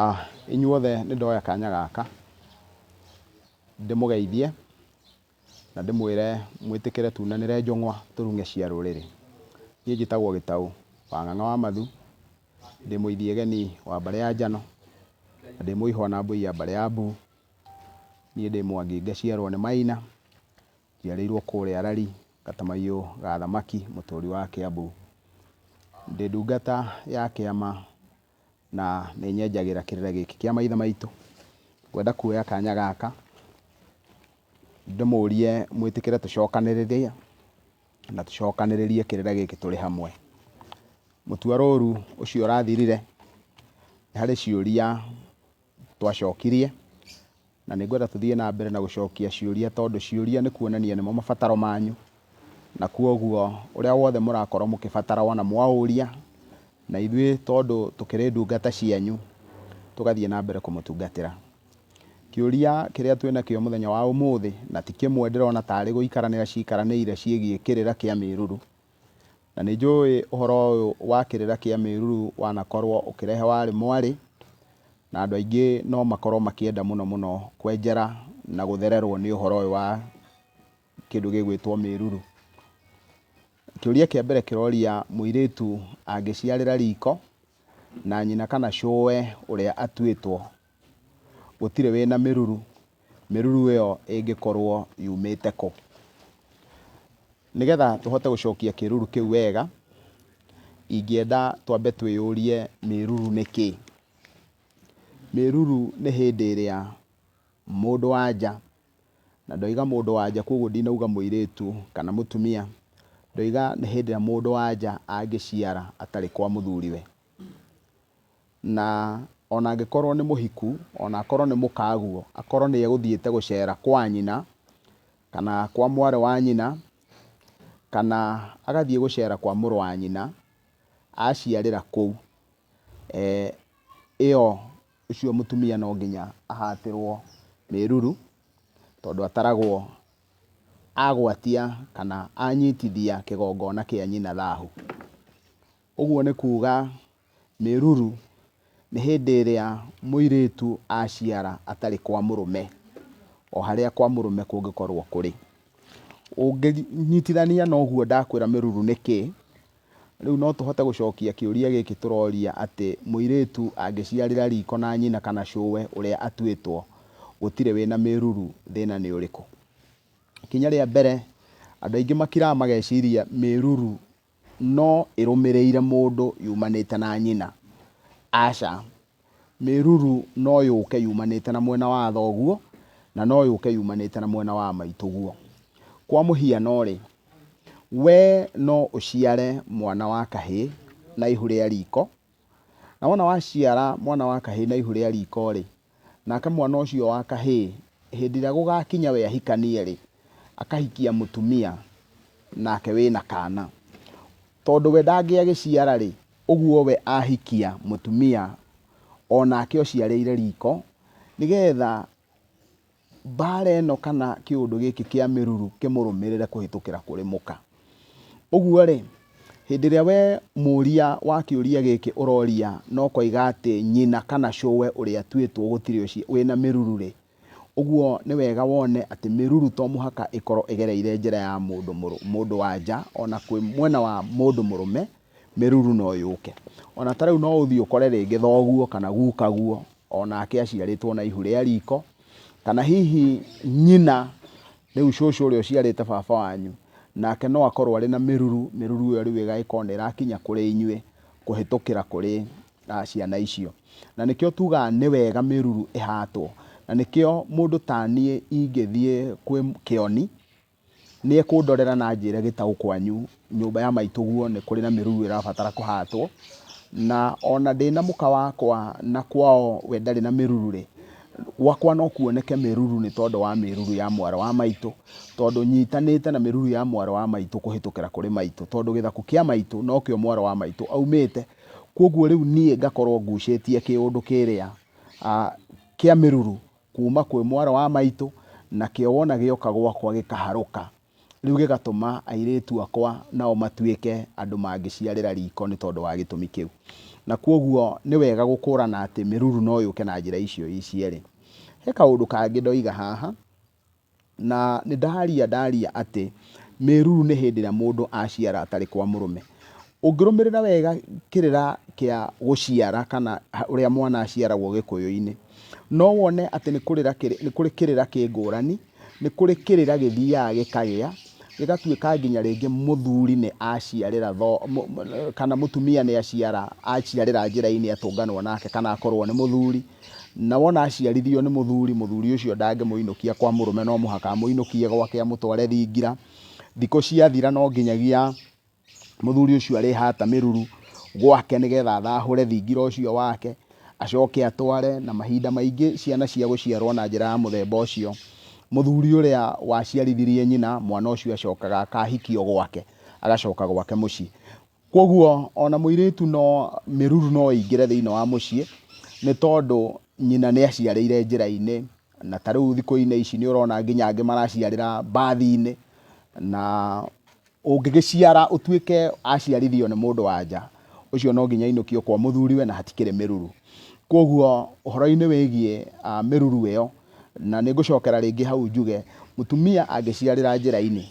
Ah, inyuothe nĩ ndoya kanya gaka ndĩmũgeithie na ndĩmwĩre mwĩtĩkĩre tunanĩre njũng'wa tũrung'e cia rũrĩrĩ. Niĩ njĩtagwo Gĩtaũ wa Ng'ang'a wa Mathu, ndĩ mũithiegeni wa mbarĩ ya Njano, na ndĩ mũihwa na mbũi ya mbarĩ ya Mbu. Niĩ ndĩ Mwangi ngaciarwo nĩ Maina, njiarĩirwo kũrĩa Rari, gatamaiyũ ga thamaki, mũtũri wa Kĩambu. Ndĩ ndungata ya kĩama na nĩ nyenjagĩra kĩrĩra gĩkĩ kĩa maithe maitũ. Ngwenda kuoya kanya gaka ndĩmũrie mwĩtĩkĩre tũcokanĩrĩre na tũcokanĩrĩrie kĩrĩra gĩkĩ tũrĩ hamwe. Mũtuarũrũ ũcio ũrathirire, nĩ harĩ ciũria twacokirie, na nĩ ngwenda tũthiĩ na mbere na gũcokia ciũria tondũ ciũria nĩ kuonania nĩmo mabataro manyu, na kwoguo ũrĩa wothe mũrakorwo mũkĩbatara wona mwaũria, na ithuĩ tondũ tũkĩrĩ ndungata cianyu, tũgathiĩ na mbere kũmũtungatĩra. Kĩũria kĩrĩa twĩnakĩo mũthenya wa ũmũthĩ, na ti kĩmwe ndĩrona tarĩ gũikaranĩra ciikaranĩire ciĩgiĩ kĩrĩra kĩa mĩruru, Na nĩ njũĩ ũhoro ũyũ wa kĩrĩra kĩa mĩruru wanakorwo ũkĩrehe warĩ mwarĩ, na andũ aingĩ no makorwo makĩenda mũno mũno kwenjera na gũthererwo nĩ ũhoro ũyũ wa kĩndũ gĩgwĩtwo mĩruru. Kĩũria kĩa mbere kĩroria mũirĩtu angĩciarĩra riko na nyina kana cũwe ũrĩa atuĩtwo Gũtirĩ wĩna mĩruru. Mĩruru ĩyo ĩngĩkorwo yumĩte kũ? Nĩgetha tũhote gũcokia kĩruru kĩu wega, ingĩenda twambe twĩyũrie mĩruru nĩ kĩ? Mĩruru nĩ hĩndĩ ĩrĩa mũndũ wa nja, na ndoiga mũndũ wa nja kwoguo ndinauga mũirĩtu kana mũtumia, ndoiga nĩ hĩndĩ ĩrĩa mũndũ wa nja angĩciara atarĩ kwa mũthuriwe. Na o na angĩkorwo nĩ mũhiku, o na akorwo nĩ mũkaguo, akorwo nĩ egũthiĩte gũceera kwa nyina, kana kwa mwarĩ wa nyina, kana agathiĩ gũceera kwa mũrũ wa nyina aaciarĩra kũu, ĩyo, ũcio mũtumia no nginya ahatĩrwo mĩruru, tondũ ataragwo agwatia kana anyitithia kĩgongona kĩa nyina thahu. Ũguo nĩ kuuga... Mĩruru, nĩ hĩndĩ ĩrĩa mũirĩtu aciara atarĩ kwa mũrũme, o harĩa kwa mũrũme kũngĩkorwo kũrĩ. Ũngĩnyitithania na ũguo ndakwĩra mĩruru nĩ kĩ, rĩu no tũhote gũcokia kĩũria gĩkĩ tũroria atĩ mũirĩtu angĩciarĩra riko na nyina kana cũwe ũrĩa atuĩtwo gũtirĩ wĩna mĩruru thĩna nĩ ũrĩkũ? Ikinya rĩa mbere, andũ aingĩ makiraga mageciria mĩruru no ĩrũmĩrĩire mũndũ yumanĩte na nyina. Aca. Mĩruru no yũke yumanĩte na mwena wa thoguo na no yũke yumanĩte na mwena wa maitũguo. Kwa mũhiano-rĩ, wee no ũciare mwana wa kahĩĩ na ihu rĩa riko Na wona waciara mwana wa kahĩĩ na ihu rĩa riiko-rĩ, nake mwana ũcio wa kahĩĩ hĩndĩ ĩrĩa gũgakinya we ahikanie-rĩ, akahikia mũtumia, nake wĩ na kaana. Tondũ we ndangĩagĩciara-rĩ, ũguo we ahikia mũtumia, o nake ũciarĩire riiko, nĩgetha Mbaara ĩno kana kĩũndũ gĩkĩ kĩa mĩruru kĩmũrũmĩrĩre kũhĩtũkĩra kũrĩ mũka. Ũguo-rĩ, hĩndĩ ĩrĩa we mũria wa kĩũria gĩkĩ ũroria na ũkoiga atĩ nyina kana cũwe ũrĩa atuĩtwo gũtirĩ ũcio wĩna mĩruru-rĩ, ũguo nĩ wega wone atĩ mĩruru to mũhaka ĩkorwo ĩgereire njĩra ya mũndũ mũndũ wa nja, ona kwĩ mwena wa mũndũ mũrũme, mĩruru no yũke. Ona ta rĩu no ũthiĩ ũkore rĩngĩ thoguo kana gukaguo o nake aciarĩtwo na ihu rĩa riko, kana hihi nyina, rĩu cũcũ ũrĩa ũciarĩte baba wanyu, nake no akorwo arĩ na mĩruru, mĩruru ĩyo rĩu ĩgagĩkorwo nĩ ĩrakinya kũrĩ inyuĩ kũhĩtũkĩra kũrĩ ciana icio. Na nĩkĩo tugaga nĩ wega mĩruru ĩhatwo. Na nĩkĩo mũndũ ta niĩ ingĩthiĩ kwĩ kĩoni... nĩekũndorera na anjĩre gĩtaũ kwanyu nyũmba ya maitũguo nĩ kũrĩ na mĩruru ĩrabatara kũhatwo, na ona ndĩ na mũka wakwa na kwao we ndarĩ na mĩruru-rĩ, gwakwa no kuoneke mĩruru nĩ tondũ wa mĩruru ya mwarĩ wa maitũ, tondũ nyitanĩte na mĩruru ya mwarĩ wa maitũ kũhĩtũkĩra kũrĩ maitũ, tondũ gĩthaku kĩa maitũ no kĩo mwarĩ wa maitũ aumĩte, kũguo rĩu niĩ ngakorwo ngucĩtie kĩũndũ kĩrĩa kĩa mĩruru kuuma kwĩ mwarĩ wa maitũ, nakĩo wona gĩoka gwakwa gĩkaharũka, rĩu gĩgatũma airĩtu akwa nao matuĩke andũ mangĩciarĩra riiko nĩ tondũ wa gĩtũmi kĩu. Na kwoguo nĩ wega gũkũrana atĩ mĩruru no yũke na njĩra icio cierĩ. He kaũndũ kangĩ ndoiga haha, Na nĩ ndaaria ndaaria atĩ mĩruru nĩ hĩndĩ ĩrĩa mũndũ aciara atarĩ kwa mũrũme. Ũngĩrũmĩrĩra wega kĩrĩra kĩa gũciara kana ũrĩa mwana aciaragwo Gĩkũyũ-inĩ, no wone atĩ nĩ kũrĩra nĩ kũrĩ kĩrĩra kĩ ngũrani, nĩ kũrĩ kĩrĩra gĩthiaga gĩkagĩa, gĩgatuĩka nginya rĩngĩ mũthuri nĩ aciarĩra kana mũtumia nĩ aciara aciarĩra njĩra-inĩ atũnganwo nake kana akorwo nĩ mũthuri. Na wona aciarithirio nĩ mũthuri, mũthuri ũcio ndangĩmũinũkia kwa mũrũme, no mũhaka amũinũkie gwake amũtware thingira. Thikũ ciathira no nginyagia mũthuri ũcio arĩhata mĩruru gwake nĩgetha athahũre thingira ũcio wake, acoke atware, na mahinda maingĩ ciana cia gũciarwo na njĩra ya mũthemba ũcio, mũthuri ũrĩa waciarithirie nyina, mwana ũcio acokaga akahikio gwake, agacoka gwake mũciĩ. Kwoguo ona mũirĩtu no mĩruru no ĩingĩre thĩinĩ wa mũciĩ nĩ tondũ nyina nĩ aciarĩire njĩra-inĩ, na ta rĩu thikũ-inĩ ici nĩ ũrona nginya angĩ maraciarĩra mbathi-inĩ, na ũngĩgĩciara ũtuĩke aciarithio nĩ mũndũ wa nja, ũcio no nginya ainũkio kwa mũthuriwe na hatikĩrĩ mĩruru. Kwoguo ũhoro-inĩ wĩgiĩ mĩruru ĩyo Na nĩngũcokera rĩngĩ hau njuge, mũtumia angĩciarĩra njĩra-inĩ,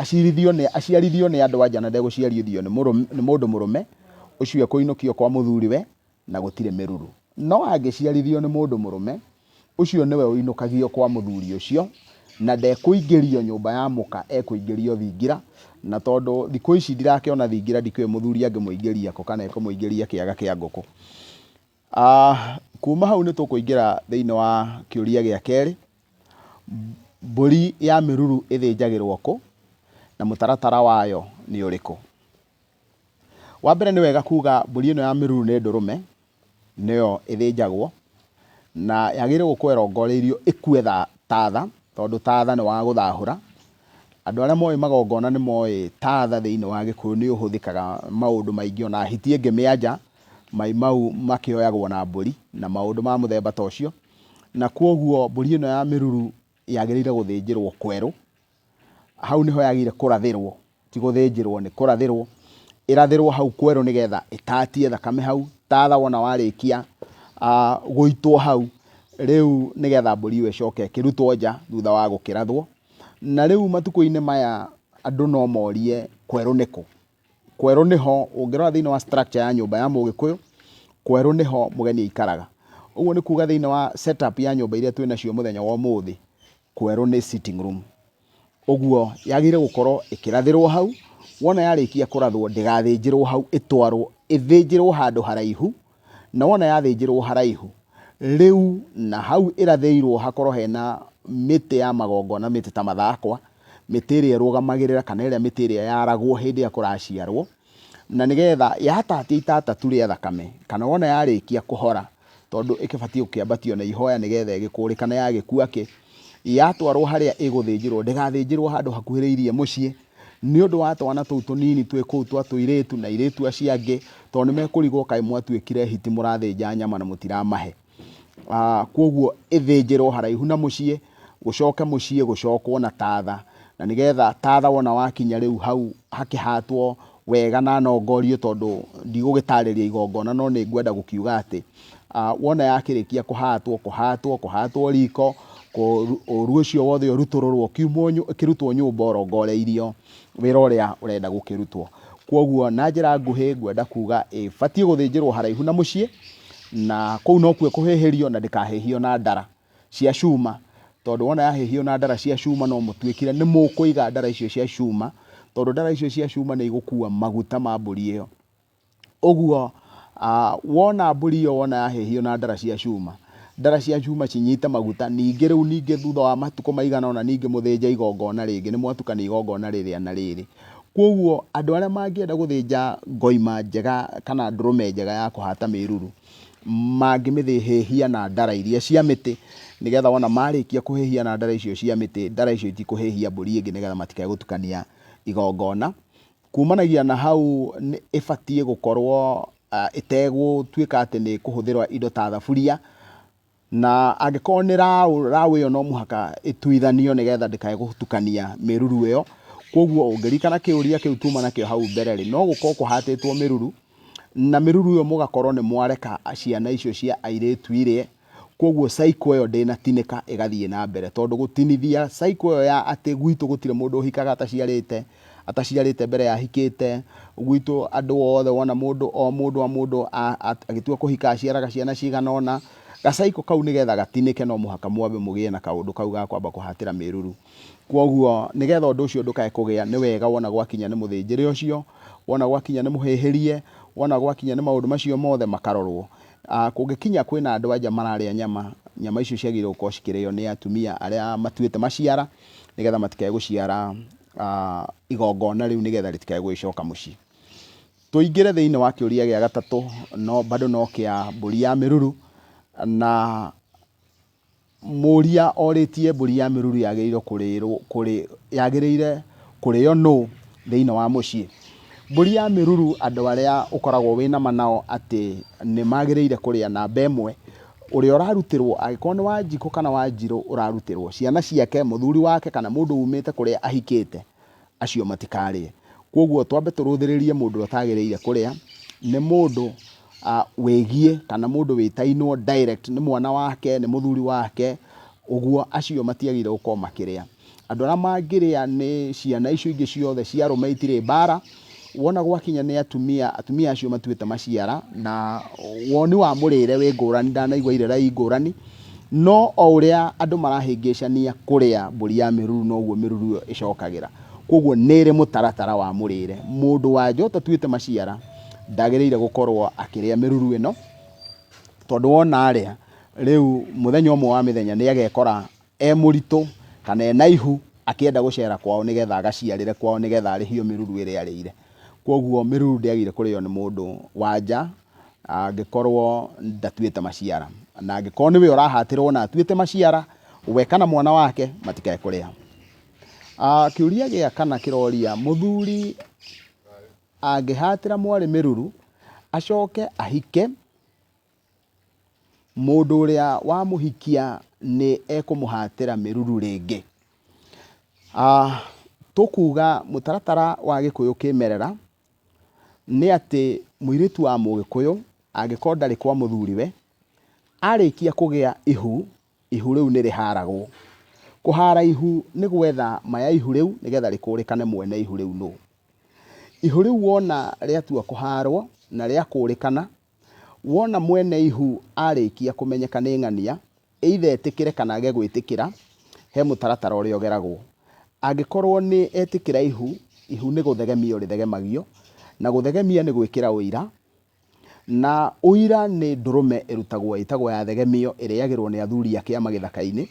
aciarithio nĩ, aciarithio nĩ andũ-a-nja na ndegũciarithio nĩ mũrũ, nĩ mũndũ mũrũme, ũcio ekũinũkio kwa mũthuriwe, na gũtirĩ mĩruru. No angĩciarithio nĩ mũndũ mũrũme, ũcio nĩwe ũinũkagio kwa mũthuri ũcio, na ndekũingĩrio nyũmba ya mũka, ekũingĩrio thingira, na tondũ thikũ ici ndirakĩona thingira, ndikĩũĩ mũthuri angĩmũingĩria kũ, kana ekũmũingĩria kĩaga kĩa ngũkũ. Kuuma hau nĩ tũkũingĩra thĩinĩ wa kĩũria gĩa kerĩ, mbũri ya mĩruru ĩthĩnjagĩrwo kũ na mũtaratara wayo nĩ ũrĩkũ? Wa mbere nĩ wega kuuga mbũri ĩno ya mĩruru nĩ ndũrũme, nĩyo ĩthĩnjagwo na yagĩrĩirwo gũkorwo ĩrongoreirio ĩkue ta tha, tondũ ta tha nĩ wa gũthahũra Andũ arĩa moĩ magongona nĩ moĩ taatha thĩinĩ wa Gĩkũyũ nĩ ũhũthĩkaga maũndũ maingĩ, o na hiti ĩngĩmĩanja, mai mau makĩoyagwo na mbũri na maũndũ ma mũthemba ta ũcio. Na kwoguo mbũri ĩno ya mĩruru yagĩrĩire gũthĩnjĩrwo kwerũ, hau nĩho yagĩrĩire kũrathĩrwo, ti gũthĩnjĩrwo, nĩ kũrathĩrwo, ĩrathĩrwo hau kwerũ nĩ getha ĩtatie thakame hau, taatha wona warĩkia gũitwo hau, rĩu nĩ getha mbũri ĩyo ĩcoke ĩkĩrutwo nja thutha wa gũkĩrathwo, Na rĩu matukũ-inĩ maya andũ no morie kwerũ nĩkũ. Kwerũ nĩho ũngĩrora thĩinĩ wa structure ya nyũmba ya mũgĩkũyũ, kwerũ nĩho mũgeni aikaraga. Ũguo nĩ kuga thĩinĩ wa set up ya nyũmba iria twĩ nacio mũthenya wa ũmũthĩ, kwerũ nĩ sitting room. Ũguo yagĩrĩire gũkorwo ĩkĩrathĩrwo hau, wona yarĩkia kũrathwo ndĩgathĩnjĩrwo hau, ĩtwarwo ĩthĩnjĩrwo handũ haraihu na wona yathĩnjĩrwo haraihu rĩu na hau ĩrathĩirwo hakorwo hena mĩtĩ ya magongona, mĩtĩ ta mathakwa, mĩtĩ ĩrĩa ĩrũgamagĩrĩra kana ĩrĩa mĩtĩ ĩrĩa yaragwo hĩndĩ ĩrĩa kũraciarwo, na nĩgetha yatatia itata tu rĩa thakame, kana wona yarĩkia kũhora, tondũ ĩkĩbatiĩ gũkĩambatio na ihoya nĩgetha ĩgĩkũre kana yagĩkua kĩ, yatwarwo harĩa ĩgũthĩnjĩrwo ndĩgathĩnjĩrwo handũ hakuhĩrĩirie mũciĩ, Nĩ ũndũ wa twana tũu tũnini twĩ kũu twa tũirĩtu na airĩtu acio angĩ, tondũ nĩ mekũrigwo kaĩ mwatuĩkire hiti mũrathĩnja nyama na mũtiramahe. Kwoguo ĩthĩnjĩrwo haraihu na mũciĩ, gũcoke mũciĩ gũcokwo na tatha, na nĩgetha tatha wona wakinya rĩu hau hakĩhatwo wega na nongorio tondũ ndigũgĩtarĩria igongona no nĩ ngwenda gũkiuga atĩ ah, wona yakĩrĩkia kũhatwo kũhatwo kũhatwo riko ũru ũcio wothe ũrutũrũrwo kiumwo kĩrutwo nyũmba ũrongoreirio wĩra ũrĩa ũrenda gũkĩrutwo kwoguo na njĩra nguhĩ ngwenda kuga ĩbatiĩ gũthĩnjĩrwo haraihu na mũciĩ na kũu nokuo kũhĩhĩrio na ndĩkahĩhio na ndara cia cuma tondå wona yahĩhio na ndara cia cuma no mũtuĩkire nĩ mũkũiga ndara icio cia cuma tondå ndara icio cia cuma nĩ igũkua maguta ma mbũri ĩyo Ũguo, wona mbũri ĩyo wona yahĩhio na ndara cia cuma, ndara cia cuma cinyite maguta, ningĩ rĩu ningĩ thutha wa matukũ maigana ũna ningĩ mũthĩnje igongona rĩngĩ, nĩ mwatukania igongona rĩrĩa na rĩrĩ. Kwoguo, andũ arĩa mangĩenda gũthĩnja ngoima njega kana ndũrũme njega ya kũhata mĩruru, mangĩmĩhĩhia na ndara iria cia mĩtĩ, nĩgetha wona marĩkia kũhĩhia na ndara icio cia mĩtĩ, ndara icio itikũhĩhia mbũri ĩngĩ nĩgetha matikae gũtukania igongona. Kuumanagia na hau, nĩ ĩbatiĩ gũkorũo ĩtegũtuĩka atĩ nĩ ĩkũhũthĩra indo ta thaburia, na angĩkorũo nĩ raũ, raũ ĩyo no mũhaka ĩtuithanio nĩgetha ndĩkae gũtukania mĩruru ĩyo. Kwoguo ũngĩririkana kĩũria kĩu tuuma nakĩo hau mbere-rĩ, no gũkorũo kũhatĩtwo mĩruru, na mĩruru ĩyo mũgakorũo nĩ mwareka ciana icio cia airĩtu irĩe. Kwoguo cycle ĩyo ndĩnatinĩka ĩgathiĩ na mbere tondũ gũtinithia cycle ĩyo ya atĩ gwitũ gũtirĩ mũndũ ũhikaga ataciarĩte, ataciarĩte mbere ya ahikĩte, gwitũ andũ othe wona mũndũ o mũndũ o mũndũ agĩtua kũhika aciaraga ciana cigana ũna, ga cycle kau nĩgetha gatinĩke no mũhaka mwambe mũgĩe na kaũndũ kau ga kwamba kũhatĩra mĩruru. Kwoguo nĩgetha ũndũ ũcio ndũkae kũgĩa nĩ wega wona gwakinya nĩ mũthĩnjĩre ũcio, wona gwakinya nĩ mũhĩhĩrie, wona gwakinya nĩ maũndũ macio mothe makarorwo. Kũngĩkinya kwĩna andũ anja mararĩa nyama, nyama icio ciagĩrĩirwo gũkorwo cikĩrĩo nĩ atumia arĩa matuĩte maciara nĩgetha matikae gũciara igongona rĩu nĩgetha rĩtikae gũgĩcoka mũciĩ. Tũingĩre thĩinĩ wa kĩũria gĩa gatatũ no bado no kĩa mbũri ya mĩruru na... Mũria orĩtie mbũri ya mĩruru yagĩrĩirwo kũrĩrwo kũrĩ yagĩrĩire kũrĩo nũ thĩinĩ wa mũciĩ. Mbũri ya mĩruru andũ arĩa ũkoragwo wĩnama nao atĩ nĩmagĩrĩire kũrĩa namba ĩmwe, ũrĩa ũrarutĩrwo angĩkorwo nĩ wanjikũ kana wanjirũ ũrarutĩrwo, ciana ciake, mũthuri wake kana mũndũ umĩte kũrĩa ahikĩte acio matikarĩe. Kwoguo twambe tũrũthĩrĩrie mũndũ ũrĩa ũtagĩrĩire kũrĩa, nĩ mũndũ wĩgiĩ kana mũndũ wĩtainwo direct nĩ mwana wake, nĩ mũthuri wake, ũguo acio matiagĩrĩire gũkorwo makĩrĩa. Andũ arĩa mangĩrĩa nĩ ciana icio ingĩ ciothe cia arũme itirĩ mbara, Wona gwakinya nĩ atumia, atumia acio matuĩte maciara, na woni wa mũrĩre wĩ ngũrani, ndanaigua irĩra i ngũrani, no o ũrĩa andũ marahĩngĩcania kũrĩa mbũri ya mĩruru noguo mĩruru ĩyo ĩcokagĩra. Koguo nĩ ĩrĩ mũtaratara wa mũrĩre. Mũndũ wa nja ũtatuĩte maciara, ndagĩrĩire gũkorwo akĩrĩa mĩruru ĩno, tondũ wona arĩa, rĩu mũthenya ũmwe wa mĩthenya nĩ agekora e mũritũ kana e na ihu akĩenda gũcera kwao nĩ getha agaciarĩre kwao nĩ getha arĩhio mĩruru ĩrĩa arĩire. Kwoguo mĩruru ndĩagĩrĩire kũrĩo nĩ mũndũ wa nja angĩkorwo ndatuĩte maciara. Na angĩkorwo nĩwe ũrahatĩrwo na atuĩte maciara, we kana mwana wake matikae kũrĩa. Kĩũria gĩa kana kĩroria, mũthuri angĩhatĩra mwarĩ mĩruru, acoke ahike, Mũndũ ũrĩa wamũhikia nĩ ekũmũhatĩra mĩruru rĩngĩ. Tũkuga mũtaratara wa gĩkũyũ kĩmerera nĩ atĩ mũirĩtu wa mũgĩkũyũ angĩkorwo ndarĩ kwa mũthuriwe, arĩkia kũgĩa ihu Ihu rĩu nĩ rĩhaaragwo. Kũhaara ihu nĩ gwetha ma ya ihu rĩu nĩgetha rĩkũrĩkane mwene ihu rĩu nũ. Ihu rĩu wona rĩatua kũhaarwo na rĩakũrĩkana, wona mwene ihu arĩkia kũmenyeka nĩ ng'ania, either etĩkĩre kana age gwĩtĩkĩra, he mũtaratara ũrĩa ũgeragwo. Angĩkorwo nĩ etĩkĩra ihu, ihu nĩ gũthegemio rĩthegemagio, na gũthegemia nĩ gwĩkĩra ũira. Na ũira nĩ ndũrũme ĩrutagwo ĩtagwo ya thegemio ĩrĩagĩrwo nĩ athuri a kĩama gĩthaka-inĩ,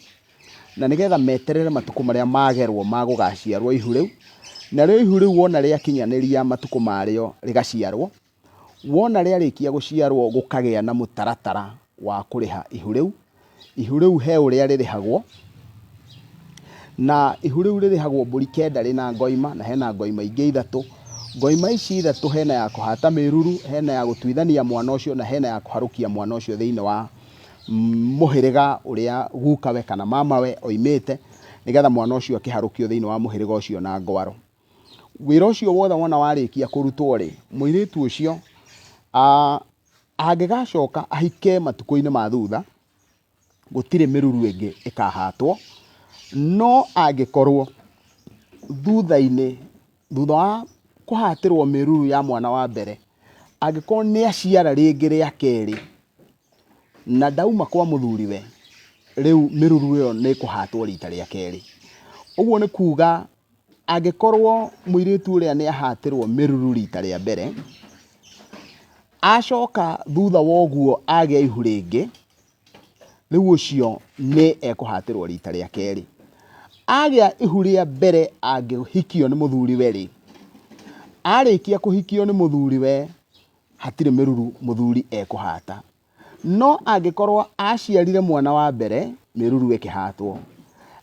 na nĩgetha meterere matukũ marĩa magerwo ma gũgaciarwo ihu rĩu. Narĩo ihu rĩu wona rĩakinyanĩria matukũ marĩo rĩgaciarwo, wona rĩarĩkia gũciarwo gũkagĩa na mũtaratara wa kũrĩha ihu rĩu. Ihu rĩu he ũrĩa rĩrĩhagwo, na ihu rĩu rĩrĩhagwo mbũri kenda rĩna ngoima, na hena ngoima ingĩ ithatũ. Ngoima ici ithatũ hena ya kũhata mĩruru, hena ya gũtuithania mwana ũcio, na hena ya kũharũkia mwana ũcio thĩinĩ wa mũhĩrĩga ũrĩa gukawe kana mamawe oimĩte, nĩgetha mwana ũcio akĩharũkio thĩinĩ wa mũhĩrĩga ũcio na ngwaro. Wĩra ũcio wothe wona warĩkia kũrutwo-rĩ, mũirĩtu ũcio a... Angĩgacoka ahike matukũ-inĩ ma thutha, gũtirĩ mĩruru ĩngĩ ĩkahatwo, no angĩkorwo thutha-inĩ, thutha wa kũhatĩrwo mĩruru ya mwana wa mbere, angĩkorwo nĩ aciara rĩngĩ rĩa kerĩ, na ndauma kwa mũthuriwe, rĩu mĩruru ĩyo nĩ ĩkũhatwo rita rĩa kerĩ. Ũguo nĩ kuga... Angĩkorwo mũirĩtu ũrĩa nĩ ahatĩrwo mĩruru rita rĩa mbere, acoka thutha wa ũguo agĩa ihu rĩngĩ, rĩu ũcio nĩ ekũhatĩrwo rita rĩa kerĩ. Agĩa ihu rĩa mbere angĩhikio nĩ mũthuriwe rĩ, arĩkia kũhikio nĩ mũthuriwe hatirĩ mĩruru mũthuri ekũhata. No angĩkorwo aaciarire mwana wa mbere, mĩruru ĩkĩhatwo.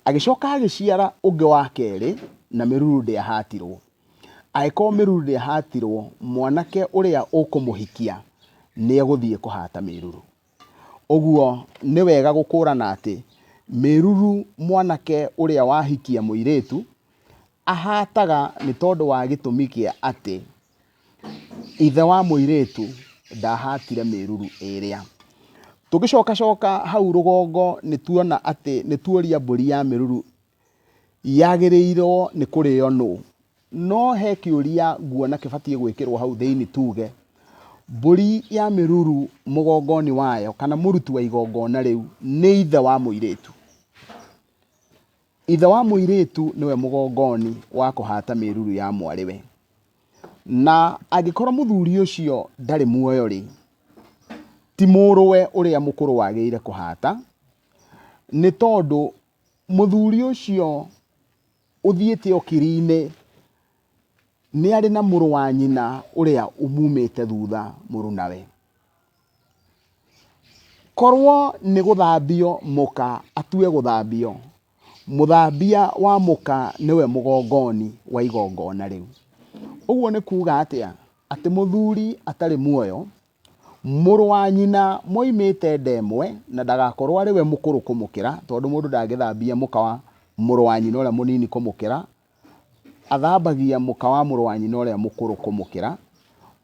Agĩcoka agĩciara ũngĩ wa kerĩ, na mĩruru ndĩahatirwo. Angĩkorwo mĩruru ndĩahatirwo, mwanake ũrĩa ũkũmũhikia nĩ egũthiĩ kũhata mĩruru. Ũguo nĩ wega gũkũrana atĩ mĩruru mwanake ũrĩa wahikia mũirĩtu ahataga nĩ tondũ wa gĩtũmi kĩa atĩ Ithe wa mũirĩtu ndahatire mĩruru ĩrĩa. Tũgĩcoka coka hau rũgongo nĩ tuona atĩ nĩ tuoria mbũri ya mĩruru yagĩrĩirwo nĩ kũrĩo nũ. No he kĩũria nguona kĩbatiĩ gwĩkĩrwo hau thĩinĩ tuge, mbũri ya mĩruru mũgongo-inĩ wayo kana mũruti wa igongona rĩu nĩ ithe wa mũirĩtu. Ithe wa mũirĩtu nĩwe mũgongoni wa kũhata mĩruru ya mwarĩwe. Na angĩkorwo mũthuri ũcio ndarĩ muoyo-rĩ, ti mũrũwe ũrĩa mũkũrũ wagĩrĩire kũhata, nĩ tondũ mũthuri ũcio ũthiĩte ũkiri-inĩ nĩ arĩ na mũrũ wa nyina ũrĩa umumĩte thutha mũrunawe. Korwo nĩ gũthambio mũka atue gũthambio, mũthambia wa mũka nĩwe mũgongoni wa igongona rĩu. Ũguo nĩ kuuga atĩa? Atĩ mũthuri atarĩ muoyo, mũrũ wa nyina moimĩte nda ĩmwe, na ndagakorwo arĩ we mũkũrũ kũmũkĩra, tondũ mũndũ ndangĩthambia mũka wa mũrũ wa nyina ũrĩa mũnini kũmũkĩra. athambagia mũka wa mũrũ wa nyina ũrĩa mũkũrũ kũmũkĩra,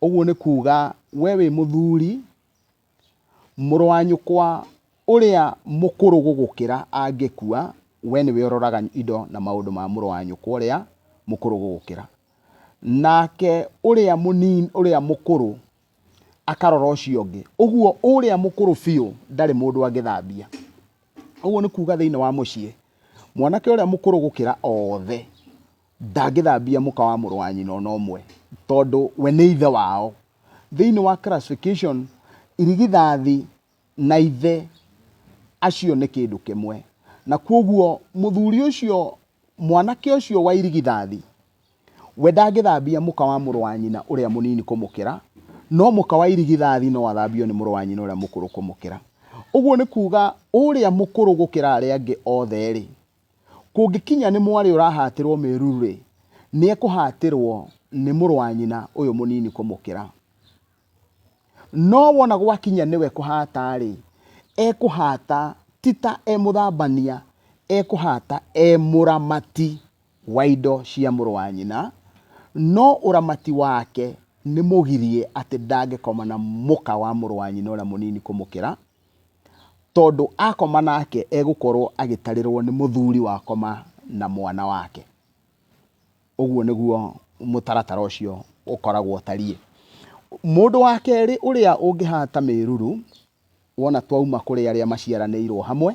ũguo nĩ kuuga we wĩ mũthuri, mũrũ wa nyũkwa ũrĩa mũkũrũ gũgũkĩra angĩkua, we nĩwe ũroraga indo na maũndũ ma mũrũ wa nyũkwa ũrĩa mũkũrũ gũgũkĩra. Nake ũrĩa mũnini ũrĩa mũkũrũ akarora ũcio ũngĩ. Ũguo ũrĩa mũkũrũ biũ ndarĩ mũndũ angĩthambia. Ũguo nĩ kuuga thĩinĩ wa mũciĩ, mwanake ũrĩa mũkũrũ gũkĩra othe ndangĩthambia mũka wa mũrũ wa nyina ona ũmwe, tondũ we nĩ ithe wao. Thĩinĩ wa classification, irigithathi na ithe acio nĩ kĩndũ kĩmwe, na kwoguo mũthuri ũcio, mwanake ũcio wa irigithathi, We ndangĩthambia mũka wa mũrũ wa nyina ũrĩa mũnini kũmũkĩra, no mũka wa irigithathi no athambio nĩ mũrũ wa nyina ũrĩa mũkũrũ kũmũkĩra. Ũguo nĩ kuuga ũrĩa mũkũrũ gũkĩra arĩa angĩ othe-rĩ, kũngĩkinya nĩ mwarĩ ũrahatĩrũo mĩruru-rĩ, nĩekũhatĩrũo nĩ mũrũ wa nyina ũyũ mũnini kũmũkĩra. No wona gwakinya nĩwe kũhata-rĩ, ekũhata ti ta e mũthambania, ekũhata e mũramati. wa indo cia mũrũ wa nyina, no ũramati wake nĩ mũgirie atĩ ndangĩkoma na mũka wa mũrũ wa nyina ũrĩa mũnini kũmũkĩra, tondũ akoma nake egũkorwo agĩtarĩrwo nĩ mũthuri wakoma na mwana wake. Ũguo nĩguo mũtaratara ũcio ũkoragwo ũtariĩ. Mũndũ wa kerĩ ũrĩa ũngĩhata mĩruru, wona twauma kũrĩ arĩa maciaranĩirwo hamwe,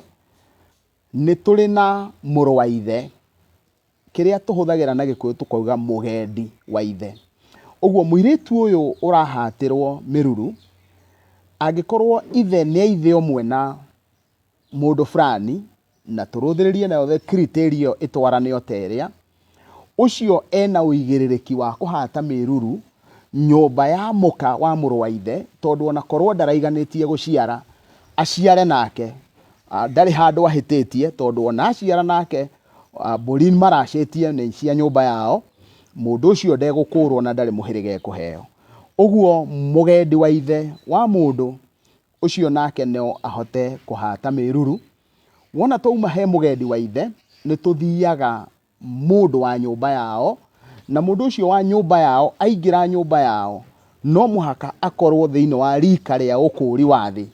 Nĩ tũrĩ na mũrũ wa ithe, kĩrĩa tũhũthagĩra na Gĩkũyũ tũkauga mũgendi wa ithe. Ũguo mũirĩtu ũyũ ũrahatĩrwo mĩruru, angĩkorwo ithe nĩ a ithe ũmwe na mũndũ fulani, na tũrũthĩrĩrie nayo the criteria ĩyo ĩtwarane o ta ĩrĩa, ũcio e na ũigĩrĩrĩki wa kũhata mĩruru nyũmba ya mũka wa mũrũ wa ithe, tondũ ona korwo ndaraiganĩtie gũciara, aciare nake, ah, ndarĩ handũ ahĩtĩtie, tondũ ona aciara nake ah, mbũri maracĩtie nĩ cia nyũmba yao, mũndũ ũcio ndegũkũũrwo na ndarĩ mũhĩrĩga ekũheo. Ũguo mũgendi wa ithe wa mũndũ Ũcio nake no ahote kũhata mĩruru. Wona twauma he mũgendi wa ithe, nĩ tũthiaga mũndũ wa nyũmba yao, na mũndũ ũcio wa nyũmba yao aingĩra nyũmba yao, no mũhaka akorwo thĩinĩ wa rika rĩa ũkũũri wa thĩ,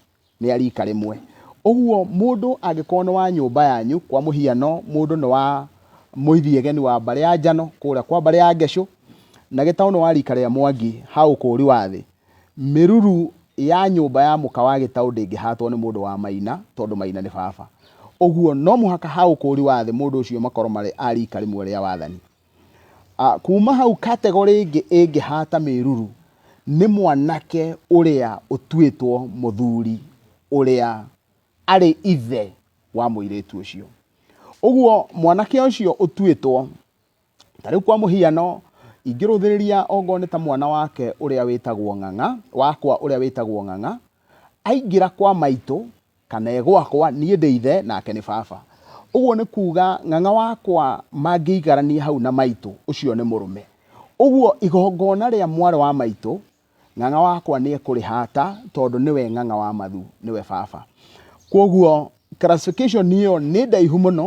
nĩ a rika rĩmwe. Ũguo mũndũ angĩkorwo nĩ wa nyũmba yanyu, kwa mũhiano mũndũ nĩ wa Mũithiegeni wa mbarĩ ya Njano, kũrĩa kwa mbarĩ ya Ngecũ, na Gĩtaũ nĩ wa rika rĩa Mwangi ha ũkũũri wa thĩ, Mĩruru ya nyũmba ya mũka wa gĩtaũ ndĩngĩhatwo nĩ mũndũ wa maina, tondũ maina nĩ baba. Ũguo no mũhaka ha ũkũũri wa thĩ mũndũ ũcio makorwo marĩ a riika rĩmwe rĩa wathani. Kuuma hau kategorĩ ĩngĩ ĩngĩhata mĩruru nĩ mwanake ũrĩa ũtuĩtwo mũthuri ũrĩa arĩ ithe wa mũirĩtu ũcio. Ũguo mwanake ũcio ũtuĩtwo ta rĩu kwa mũhiano ingĩrũthĩrĩria ongorwo nĩ ta mwana wake ũrĩa wĩtagwo ng'ang'a wakwa ũrĩa wĩtagwo ng'ang'a aingĩra kwa maitũ kana egwakwa niĩ ndĩ ithe nake nĩ baba ũguo nĩ kuga ng'ang'a wakwa mangĩigarania hau na maitũ ũcio nĩ mũrũme ũguo igongona rĩa mwarĩ wa maitũ Ng'ang'a wakwa nĩ ekũrĩhata tondũ nĩwe ng'ang'a wa mathu, nĩwe baba. Kwoguo classification ĩyo nĩ ndaihu mũno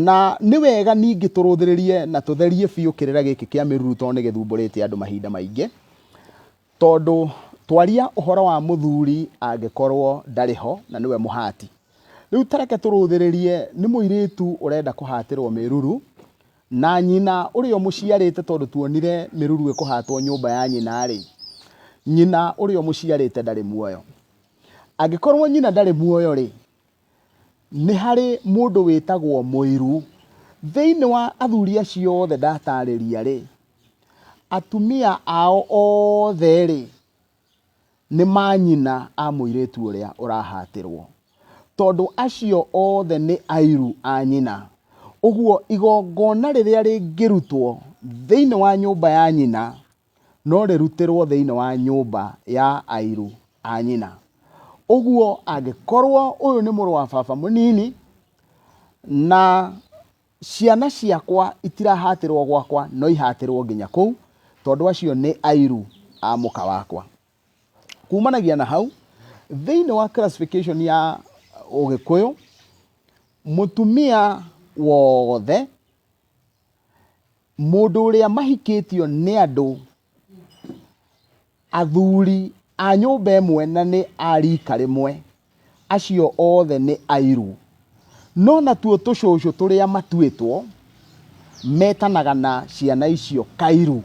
na nĩ wega ningĩ tũrũthĩrĩrie na tũtherie biũ kĩrĩra gĩkĩ kĩa mĩruru tondũ nĩ gĩthumbũrĩte andũ mahinda maingĩ. Tondũ twaria ũhoro wa mũthuri angĩkorwo ndarĩ ho na nĩwe mũhati. Rĩu ta reke tũrũthĩrĩrie nĩ mũirĩtu ũrenda kũhatĩrwo mĩruru Na nyina ũrĩa ũmũciarĩte, tondũ tuonire mĩruru ĩkũhatwo nyũmba ya nyina-rĩ, nyina ũrĩa ũmũciarĩte ndarĩ muoyo. Angĩkorwo nyina ndarĩ muoyo-rĩ, nĩ harĩ mũndũ wĩtagwo mũiru. Thĩinĩ wa athuri acio othe ndataarĩria-rĩ, atumia ao othe-rĩ, Nĩ manyina a mũirĩtu ũrĩa ũrahatĩrwo, tondũ acio othe nĩ airũ a nyina. Ũguo igongona rĩrĩa rĩngĩrutwo thĩinĩ wa nyũmba ya nyina no rĩrutĩrwo thĩinĩ wa nyũmba ya airũ a nyina. Ũguo angĩkorwo ũyũ nĩ mũrũ wa baba mũnini na... Ciana ciakwa itirahatĩrwo gwakwa, no ihatĩrwo nginya kũu, tondũ acio nĩ airũ a mũka wakwa. Kumanagia na hau, thĩinĩ wa classification ya Ũgĩkũyũ, mũtumia wothe, mũndũ ũrĩa mahikĩtio nĩ andũ athuri a nyũmba ĩmwe na nĩ a rika rĩmwe, acio othe nĩ airũ. No natuo tũcũcũ tũrĩa matuĩtwo metanaga na ciana icio kairũ.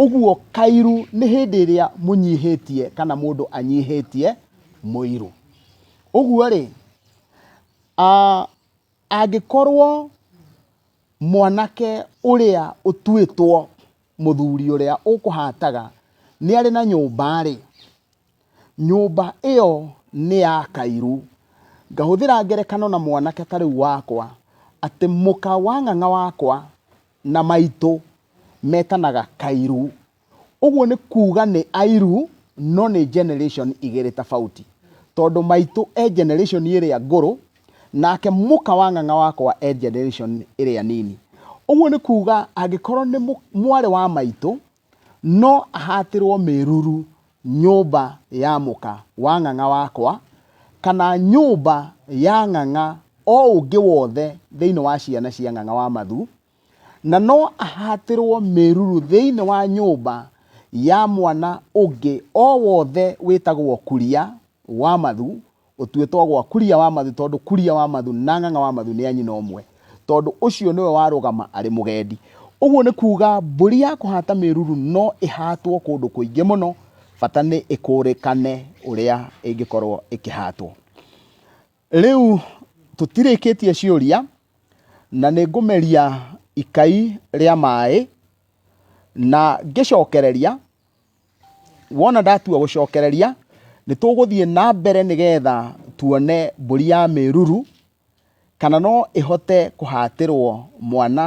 Ũguo kairũ nĩ hĩndĩ ĩrĩa mũnyihĩtie kana mũndũ anyihĩtie mũirũ. Ũguo rĩ, angĩkorwo Mwanake ũrĩa ũtuĩtwo mũthuri ũrĩa ũkũhataga nĩ arĩ na nyũmba-rĩ, nyũmba ĩyo nĩ ya kairu. Ngahũthĩra ngerekano na mwanake ta rĩu wakwa, atĩ mũka wa ng'ang'a wakwa na maitũ metanaga kairu. Ũguo nĩ kuuga nĩ airu no nĩ generation igĩrĩ tofauti. Tondũ maitũ e generation ĩrĩa ngũrũ, nake mũka wa ng'ang'a wakwa e generation ĩrĩa nini. Ũguo nĩ kuuga angĩkorwo nĩ mwarĩ wa maitũ, no ahatĩrwo mĩruru nyũmba ya mũka wa ng'ang'a wakwa, kana nyũmba ya ng'ang'a o ũngĩ wothe thĩinĩ wa ciana cia ng'ang'a wa mathu, Na no ahatĩrwo mĩruru thĩinĩ wa nyũmba ya mwana ũngĩ o wothe wĩtagwo Kuria wa Mathu, ũtuĩtwo gwa Kuria wa Mathu, tondũ Kuria wa Mathu na Ng'ang'a wa Mathu nĩ a nyina ũmwe, tondũ ũcio nĩwe warũgama arĩ mũgendi. Ũguo nĩ kuuga mbũri ya kũhata mĩruru no ĩhatwo kũndũ kũingĩ mũno, bata nĩ ĩkũrĩkane ũrĩa ĩngĩkorwo ĩkĩhatwo. Rĩu tũtirĩkĩtie ciũria na nĩ ngũmeria ikai rĩa maĩ na ngĩcokereria, wona ndatua gũcokereria nĩ tũgũthiĩ na mbere nĩgetha tuone mbũri ya mĩruru kana no ĩhote kũhatĩrwo mwana.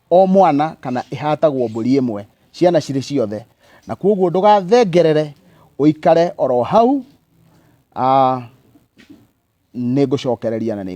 o mwana kana ĩhatagwo mbũri ĩmwe, ciana cirĩ ciothe. Na kwoguo ndũgathengerere, ũikare oro hau, ah, nĩ ngũcokereria na nĩ